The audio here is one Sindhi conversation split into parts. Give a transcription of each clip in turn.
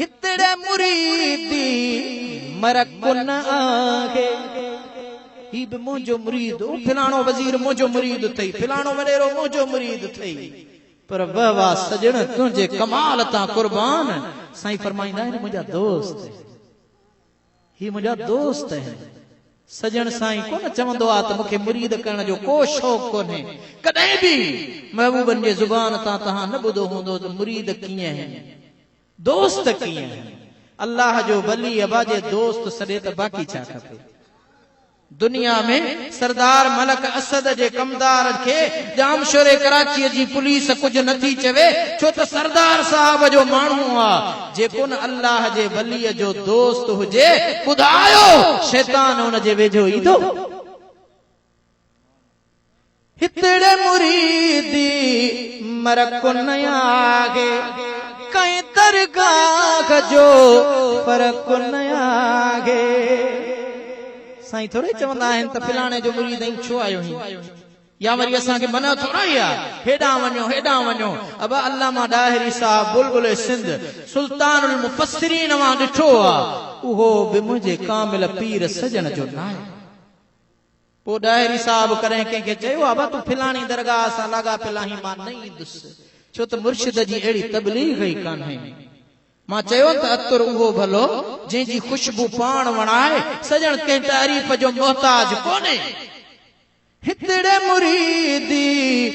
هتڙي مريدي مرڪ نه آهي. هي به منهنجو مريد هو، فلاڻو وزير منهنجو مريد اٿئي، فلاڻو وڏيرو منهنجو مريد اٿئي، پر واه واه سڄڻ تنهنجي ڪمال تان قربان، سائين فرمائيندا آهن منهنجا دوست. هي منهنجا دوست آهن. سڄڻ سائين ڪونه چوندو آ ته مون کي مريد ڪرڻ جو ڪو شوق ڪونهي. ڪڏهن به محبوبن جي زبان تان توهان نه ٻڌو هوندو ته مريد ڪيئن آهن. دوست ڪيئن آهن. الله جو ولي ابا جي دوست سڏي ته باقي ڇا کپي. دنيا ۾ سردار ملڪ اسد جي ڪمدار کي ڄامشوري ڪراچي جي پوليس ڪجهه نه ٿي چوي ڇو ته سردار صاحب جو ماڻهو آ جيڪون الله جي ولي جو دوست هجي ٻڌايو شيطان ان جي ويجهو ايندو؟ هتڙي مريدي مر ڪونه آهي، ڪنهن درگاهه جو پر ڪونه آهي. سائين ٿورئي چوندا آهن ته فلاڻي جو مريد آهين ڇو آيو آهين؟ يا وري اسان کي منع ٿورائي آ هيڏانهن وڃو هيڏانهن وڃو. ابا علامه ڏاهري صاحب بلبل سنڌ سلطان المفسرين مان ڏٺو آ اهو به منهنجي ڪامل پير سڄڻ جو ناهي. پوء ڏاهري صاحب ڪڏهن ڪنهن کي چيو آهي ڀا تون فلاڻي درگاهه سان لاڳاپيل آهين مان نه ايندس ڇو ته مرشد جي اهڙي تبليغ ئي ڪانهي مان چيو ته عطر اهو ڀلو جنهن جي خوشبو پاڻ وڻائي سڄڻ ڪنهن تعريف جو محتاج ڪونهي هتڙي مريدي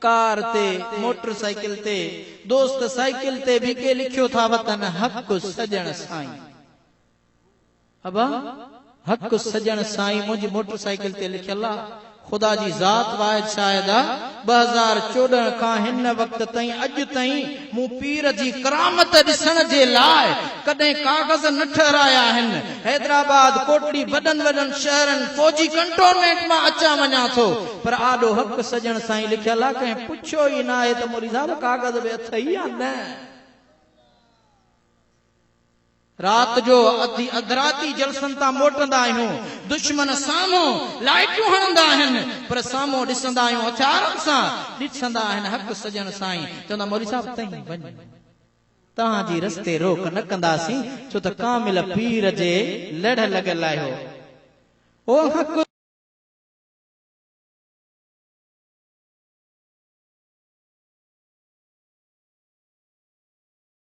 ڪار تي، موٽر سائيڪل تي، دوست سائيڪل تي به ڪي لکيو ٿا وتن حق سڄڻ سائين. ابا حق سڄڻ سائين منهنجي موٽر سائيڪل تي لکيل آ. خدا جي ذات واحد شاهد آ ٻه هزار چوڏهن کان هن وقت تائين اڄ تائين مون پير جي ڪرامت ڏسڻ جي لاء ڪڏهن ڪاغذ نه ٺهرايا آهن. حيدرآباد، ڪوٽڙي، وڏن وڏن شهرن، فوجي ڪنٽونمينٽ مان اچان وڃان ٿو، پر آڏو حق سڄڻ سائين لکيل آ، ڪنهن پڇيو ئي ناهي ته مولوي صاحب ڪاغذ به اٿئي يا نه؟ رات جو اڌ اڌ راتي جلسن تان موٽندا آهيون، دشمن سامهون لائيٽون هڻندا آهن، پر سامهون ڏسندا آهيون هٿيارن سان ڏٺندا آهن حق سڄڻ سائين چوندا مولوي صاحب تئين وڃ توهان جي رستي روڪ نه ڪنداسين ڇو ته ڪامل پير جي لڙهه لڳل آهيو او حق